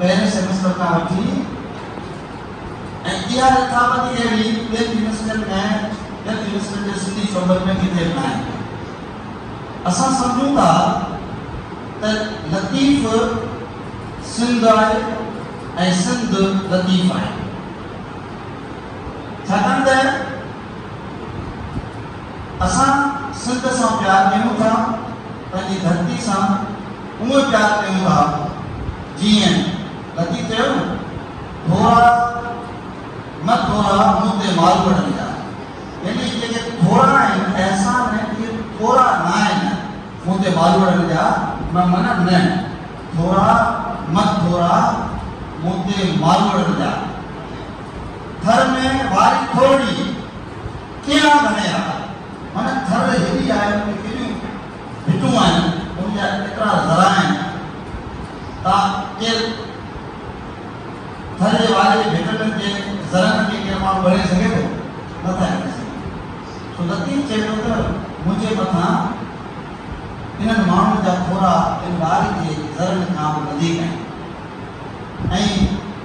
پهرين سيمسٽر کان وٺي ۽ اها رٿابندي اهڙي ٻين يونيورسٽين ۾ ٻين يونيورسٽين جي سنڌي شعبن ۾ ڪٿي به ناهي. اسان سمجهون ٿا ته لطيف سنڌ آهي ۽ سنڌ لطيف آهي ڇاڪاڻ ته اسان سنڌ سان پيار ڪيون ٿا، پنهنجي ڌرتي سان اونء پيار ڪيون ٿا، جيئن لطيف چيو نه، ٿورا نه ٿورا مون تي مال وڙهڻي آ، يعني جيڪي ٿورا آهن احسان اهي ٿورا ناهن، مون تي مال وڙهڻي جا مان منم نه، ٿورا نه ٿورا مون تي مال وڙهڻي جا. ٿر ۾ واري ٿورڙي ڪيئان ڀڃي ها؟ معنيٰ ٿر هيڏي آهي، ان ۾ ڪيڏيون ڀتون آهن، ان جا ڪيترا ذرا آهن، تا ڪير ٿر جي واري جي ڀتن جي ذرن کي ڪير ماڻهو ڳڻي سگهي ٿو؟ نه ٿا ڳڻي سگهن. سو لطيف چئي ٿو ته منهنجي مٿان انهن ماڻهن جا ٿورا ان واري جي ذرن کان به وڌيڪ آهن ۽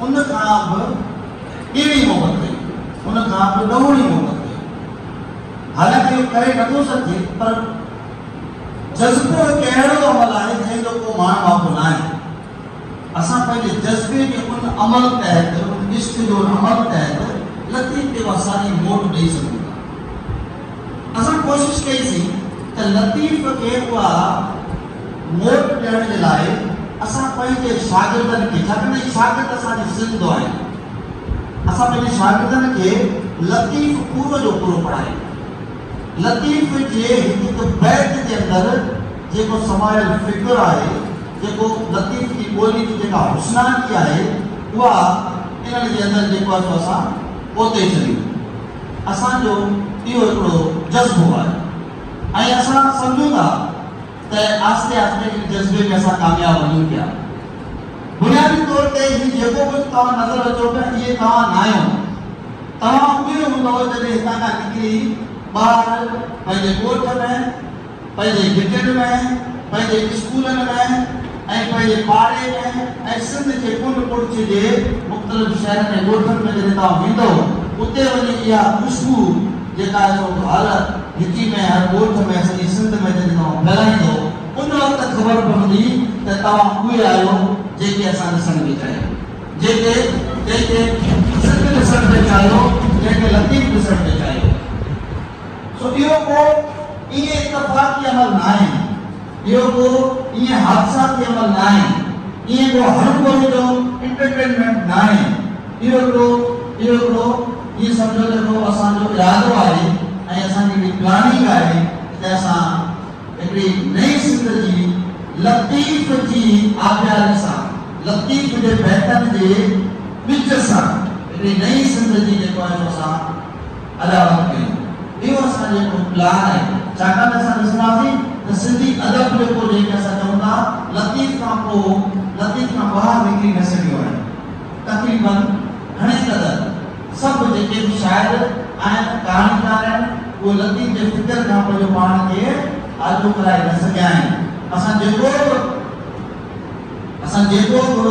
ان کان به ٻيڻي محبت ڪئي، ان کان به ڏهوڻي محبت ڪئي. حالانڪه اهو ڪري نٿو سگهجي پر جذبو هڪ اهڙو عمل آهي جنهن جو ڪو ماڻ واڪو ناهي. اسان پنهنجي جذبي جي ان عمل تحت، ان عشق جو ان عمل تحت لطيف کي اها ساڳي موٽ ڏئي سگهون ٿا. اسان ڪوشش ڪئي سين ته لطيف کي اها. موٽ ڏيڻ جي لاء اسان پنهنجي شاگردن کي ڇاڪاڻ ته هي شاگرد اسان جي سنڌ آهن اسان پنهنجي شاگردن کي لطيف پورو جو پورو پڙهايون لطيف جي هڪ هڪ بيت جي اندر جيڪو سمايل فڪر آهي جيڪو لطيف جي ٻولي جي جيڪا حسناڪي آهي اها انهن جي اندر جيڪو آهي سو اسان پوتي ڇڏيون اسان جو اهو هڪڙو جذبو آهي ۽ اسان سمجهون ٿا ته آهستي آهستي ان جذبي ۾ اسان ڪامياب وڃون پيا. بنيادي طور تي هي جيڪو ڪجهه توهان نظر اچو پيا اهي توهان ناهيو. توهان اهي هوندؤ جڏهن هتان کان نڪري ٻاهر پنهنجي ڳوٺ ۾، پنهنجي گهٽين ۾، پنهنجي اسڪولن ۾، ۽ پنهنجي پاڙي ۾ ۽ سنڌ جي ڪنڊ ڪڙڇ جي مختلف شهرن ۽ ڳوٺن ۾ جڏهن توهان ويندؤ اتي وڃي اها خوشبو جيڪا آهي سو هر هڪي ۾ هر ڳوٺ ۾ سڄي سنڌ ۾ جڏهن توهان ڦهلائيندؤ ان وقت خبر پوندي ته توهان اهي آهيو جيڪي اسان ڏسڻ پئي چاهيو جيڪي جنهن کي سنڌ ڏسڻ پئي چاهيو جنهن کي لطيف ڏسڻ پئي چاهيو سو اهو ڪو ائين اتفاقي عمل ناهي. اهو ڪو ائين حادثاتي عمل ناهي، ائين ڪو هرگوري جو انٽرٽينمينٽ ناهي، اهو ڪو اهو ڪو ائين سمجهو ته ڪو اسان جو ارادو آهي ۽ اسان جي هڪڙي پلاننگ آهي ته اسان هڪڙي نئين سنڌ جي لطيف جي آبياري سان، لطيف جي بيتن جي ٻج سان هڪڙي نئين سنڌ جي جيڪو آهي سو اسان. علامت ڪيون. اهو اسان جو هڪڙو پلان آهي، ڇاڪاڻ ته اسان ڏسنداسين ته سنڌي ادب جيڪو جنهن کي اسان چئون ٿا لطيف کان پوء لطيف کان ٻاهر نڪري نه سگهيو آهي. تقريباً گهڻي قدر سڀ جيڪي به شاعر آهن، ڪهاڻيڪار آهن، اهي لطيف جي فڪر کان پنهنجو پاڻ کي آجو ڪرائي نه سگهيا آهن. اسان جيڪو به اسان جيڪو به.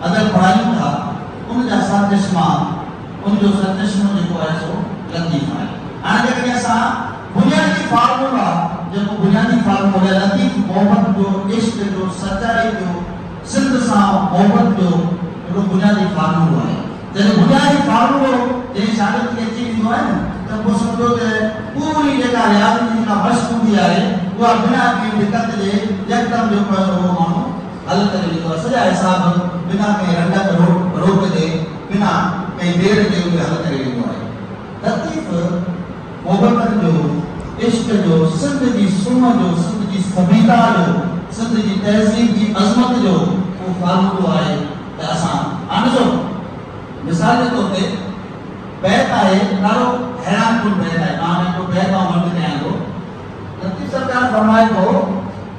ادب پڙهايون ٿا، ان جا سرچشما، ان جو سرچشمو جيڪو آهي سو لطيف آهي. هاڻي جيڪڏهن اسان بنيادي فارمولا جيڪو بنيادي فارمولي لطيف محبت جو، عشق جو، سچائي جو، سنڌ سان محبت جو هڪڙو بنيادي فارمولو آهي. جڏهن بنيادي فارمولو جنهن شاگرد کي اچي ويندو آهي نه ته پوء سمجهو ته پوري جيڪا رياضي جي جيڪا مشق هوندي آهي اها بنا ڪنهن دقت جي يڪدم جيڪو آهي سو اهو ماڻهو حل ڪري ڏنو آهي سڄا حساب بنا ڪنهن رنڊڪ روڪ جي بنا ڪنهن دير جي اهي حل ڪري ڏنو آهي لطيف محبتن جو عشق جو سنڌ جي سونهن جو سنڌ جي سڀيتا جو سنڌ جي تهذيب جي عظمت جو اهو فارمولو آهي ته اسان هاڻ ڏسو مثال جي طور تي بيت آهي ڏاڍو حيران ڪن بيت آهي مان هاڻي هڪڙو بيت آئون ورد ڪيان ٿو لطيف سرڪار فرمائي ٿو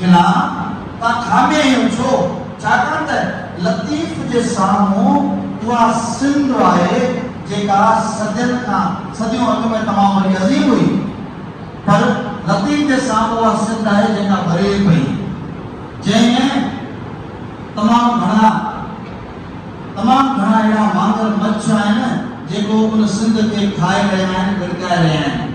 کلان تان کانبي ايون ڇو؟ ڇاڪاڻ ته لطيف جي سامهون اها سنڌ آهي جيڪا صدين کان صديون اڳ ۾ تمام وڏي عظيم هئي پر لطيف جي سامهون اها سنڌ آهي جيڪا ڀري پئي جنهن ۾ تمام گهڻا تمام گهڻا اهڙا مانگر مڇ آهن جيڪو ان سنڌ کي کائي رهيا آهن ڳڙڪائي رهيا آهن.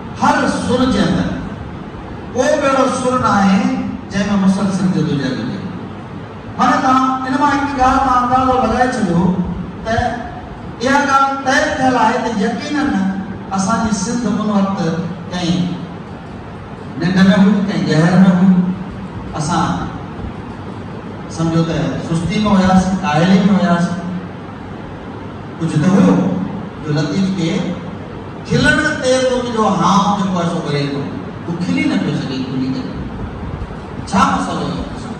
هر سر جي اندر ڪو به اهڙو سر ناهي جنهن ۾ مسلسل جدوجهد هجي. معنيٰ توهان ان مان هڪ ڳالهه تان اندازو لڳائي ڇڏيو ته اها ڳالهه طئي ٿيل آهي ته يقيناً اسان جي سنڌ ان وقت ڪنهن ننڊ ۾ هئي، ڪنهن گهر ۾ هئي، اسان سمجهو ته سستي ۾ هياسين، ڪاهلي ۾ هياسين. ڪجهه ته هيو جو لطيف کي. کلڻ تي تون جو هام جيڪو آهي سو ڀري ٿو، تون کلي نه پيو سگهين کلي ڪري. ڇا مسئلو اٿئي تو سان؟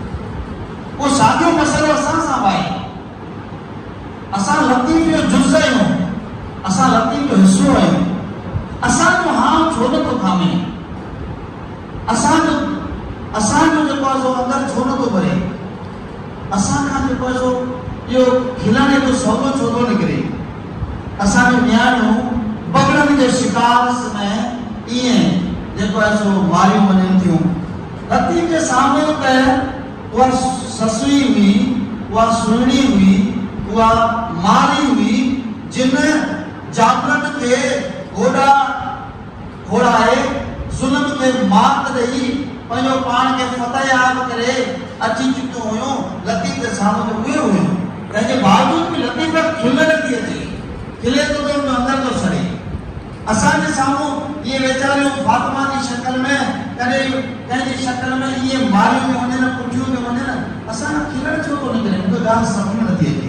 ڪو ساڳيو مسئلو اسان سان به آهي. اسان لطيف جو جز آهيون، اسان لطيف جو حصو آهيون، اسان جو هام ڇو نه ٿو ٿامي؟ اسان جو اسان جو جيڪو آهي سو اندر ڇو نه ٿو ڀري؟ اسان کان جو پئسو اهو کلڻ ايڏو سولو ڇو ٿو نڪري؟ اسان جون نياڻيون بگڙن جي شڪار سمهي ايئن جي پئسو ماريون وڃن ٿيون. لطيف جي سامهون ته اها سسئي هئي، اها سهڻي هئي، اها مارئي هئي، جن جابرن کي گوڏا، گهوڙائي، ظلم کي مات ڏئي، پنهنجو پاڻ کي فتحياب ڪري اچي چڪيون هيون، لطيف جا سامهون ته اهي هيون. تنهن جي باوجود به لطيف کي کل نٿي اچي، کلي ٿو ته ان جو اندر ٿو سڙي. اسان جي سامهون اهي ويچاريون فاطمه جي شڪل ۾ ڪڏهن ڪنهن جي شڪل ۾ ائين ماريون ٿيون وڃن، ڪٽيون ٿيون وڃن، اسان کان کلڻ ڇو ٿو نڪري، مون کي ڳالهه سمجهه ۾ نٿي اچي.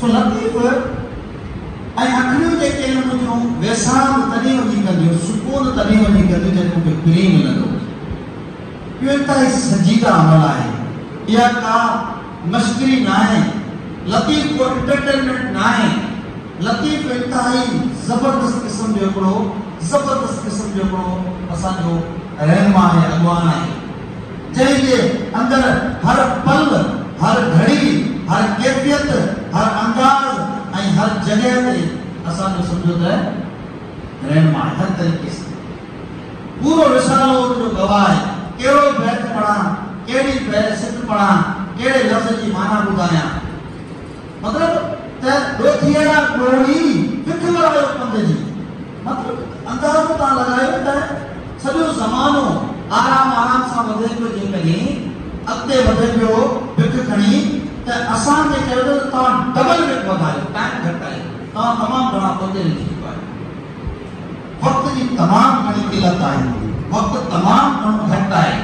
سو لطيف ۽ اکڙيون جيڪي آهن ان جون ويساهه به تڏهن وڃي ڪنديون، سڪون تڏهن وڃي ڪنديون جڏهن ان کي پرينء ملندو هجي. اهو انتهائي سنجيده عمل آهي. اها ڪا مشڪري ناهي. لطيف ڪو انٽرٽينمينٽ ناهي. لطيف انتهائي زبردست قسم جو هڪڙو زبردست قسم جو هڪڙو اسان جو رهنما آهي، اڳواڻ آهي. جنهن جي اندر هر پل، هر گهڙي، هر ڪيفيت، هر انداز ۽ هر جڳهه تي اسان جو سمجهو ته رهنماء هر طريقي سان پورو رسالو ان جو گواهه آهي، ڪهڙو بيت پڙهان، ڪهڙي بيل سٽ پڙهان، ڪهڙي لفظ جي معنيٰ ٻڌايان. مطلب ته ڏوٿيئڙا ڏوڙي، پک ورايو پنڌ جي. مطلب اندازو تان لڳايو ته سڄو زمانو آرام آرام سان وڌي پيو جيڪڏهن اڳتي وڌي پيو بک کڻي ته اسان کي چيو ته توهان ڊبل بک وڌايو ٽائيم گهٽ آهي توهان تمام گهڻا پوئتي رهجي چڪا آهيو وقت جي تمام گهڻي قلت آهي وقت تمام گهڻو گهٽ آهي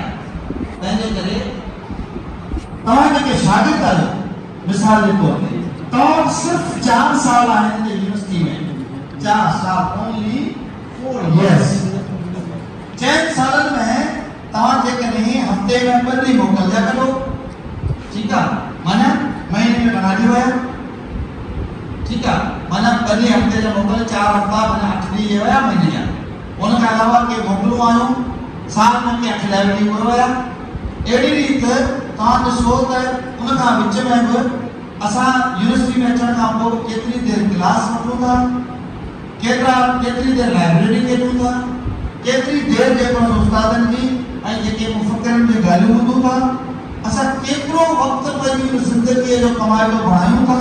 تنهنجي ڪري توهان جيڪي شاگرد آهيو مثال جي طور تي تو وٽ صرف چار سال آهن هن يونيورسٽي ۾، چار سال Only Four Years. چئن سالن ۾ توهان جيڪڏهن هفتي ۾ ٻه ڏينهن موڪل جا ڪڍو، ٺيڪ آ، معنيٰ مهيني ۾ ٻنهان ڏينهن ويا، ٺيڪ آ، معنيٰ ٻه ڏينهن هفتي جا موڪل، چار هفتا معنيٰ اٺ ڏينهن اهي ويا مهيني جا. ان کان علاوه ڪي موڪلون آيون، سال ۾ ڪي اٺ ليو ٽيمبر ويا. اهڙي ريت توهان ڏسو ته ان کان وچ ۾ به اسان يونيورسٽي ۾ اچڻ کان پوء ڪيتري دير ڪلاس وٺون ٿا، ڪيترا ڪيتري دير لائبريري ڪيڏون ٿا، ڪيتري دير جيڪو اسان استادن جي ۽ جيڪي مفڪرن جون ڳالهيون ٻڌون ٿا، اسان ڪيترو وقت پنهنجي ان زندگيء جو ڪمائتو بڻايون ٿا.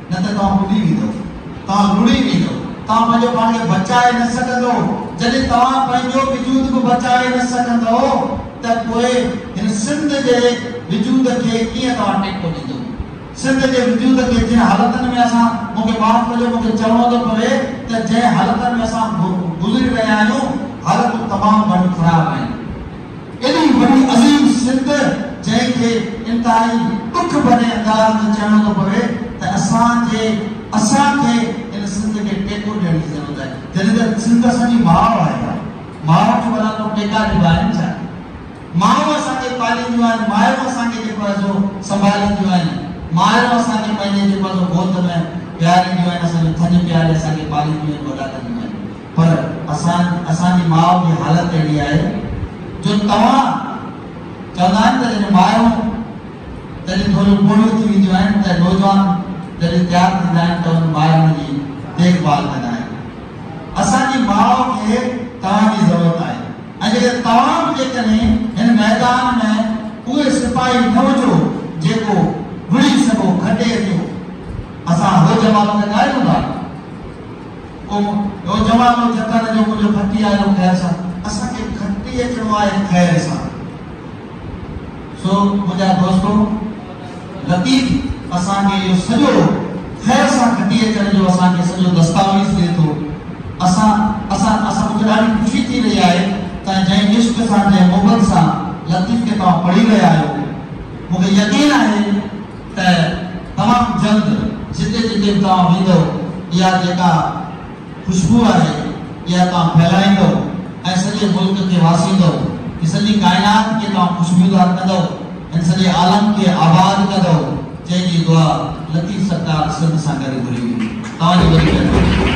نه ته توهان ٻڏي ويندؤ، توهان لڙهي ويندؤ، توهان پنهنجو پاڻ کي بچائي نه سگهندؤ. جڏهن توهان پنهنجو وجود به بچائي نه سگهندؤ ته پوء هن سنڌ جي وجود کي ڪيئن توهان ٽيڪو ڏيندؤ؟ سنڌ جي وجود کي جنهن حالتن ۾ اسان، مون کي معاف ڪجو مون کي چوڻو ٿو پوي ته جنهن حالتن ۾ اسان گذري رهيا آهيون، حالتون تمام گهڻيون خراب آهن. ايڏي وڏي عظيم سنڌ جنهن کي انتهائي ڏک ڀري انداز ۾ چئڻو ٿو پوي ته اسان جي اسان کي ان سنڌ کي ٽيڪو ڏيڻ جي ضرورت آهي جڏهن ته سنڌ اسان جي ماء آهي ڀاء ماء کي ڀلا ڪو ٽيڪا ڏبا آهن ڇا مايون اسان کي پالينديون آهن مايون اسان کي جيڪو آهي سو سنڀالينديون آهن مايون اسان کي پنهنجي جيڪو آهي سو گود ۾ ويهارينديون آهن اسان جو ٿڃ پياري اسان کي پالينديون آهن وڏا ڪنديون آهن. پر اسان اسان جي ماء جي حالت اهڙي آهي جو توهان چوندا آهن ته جڏهن مايون جڏهن ٿوريون پوڙهيون ٿي وينديون آهن ته نوجوان جڏهن تيار ٿيندا آهن ته انهن مايون جي ديک ڀال ڪندا آهن اسان جي ماء کي توهان جي ضرورت آهي ۽ جڏهن توهان به جيڪڏهن هن ميدان ۾ اهي سپاهي نه هجو جيڪو وڙهي سگهو کٽي ٿيو اسان هو جواب ڪندا آهيون ڀاء. ڪو نوجوانو جتن جو ڪجهه ڦٽي آيو خير سان، اسان کي ڦٽي اچڻو آهي خير سان. سو منهنجا دوستو لطيف اسان کي اهو سڄو خير سان ڦٽي اچڻ جو اسان کي سڄو دستاويز ڏئي ٿو. اسان اسان اسان مون کي ڏاڍي خوشي ٿي رهي آهي ته جنهن عشق سان جنهن محبت سان لطيف کي توهان پڙهي رهيا آهيو مون کي يقين آهي ته تمام جلد جتي جتي به توهان ويندؤ اها جيڪا خوشبو آهي اها توهان ڦهلائيندؤ ۽ سڄي ملڪ کي واسيندؤ هي سڄي ڪائنات کي توهان خوشبودار ڪندؤ هن سڄي عالم کي آباد ڪندؤ جنهن جي دعا لطيف سرڪار سنڌ سان گڏ گهري هئي توهان جي وڏي مهرباني.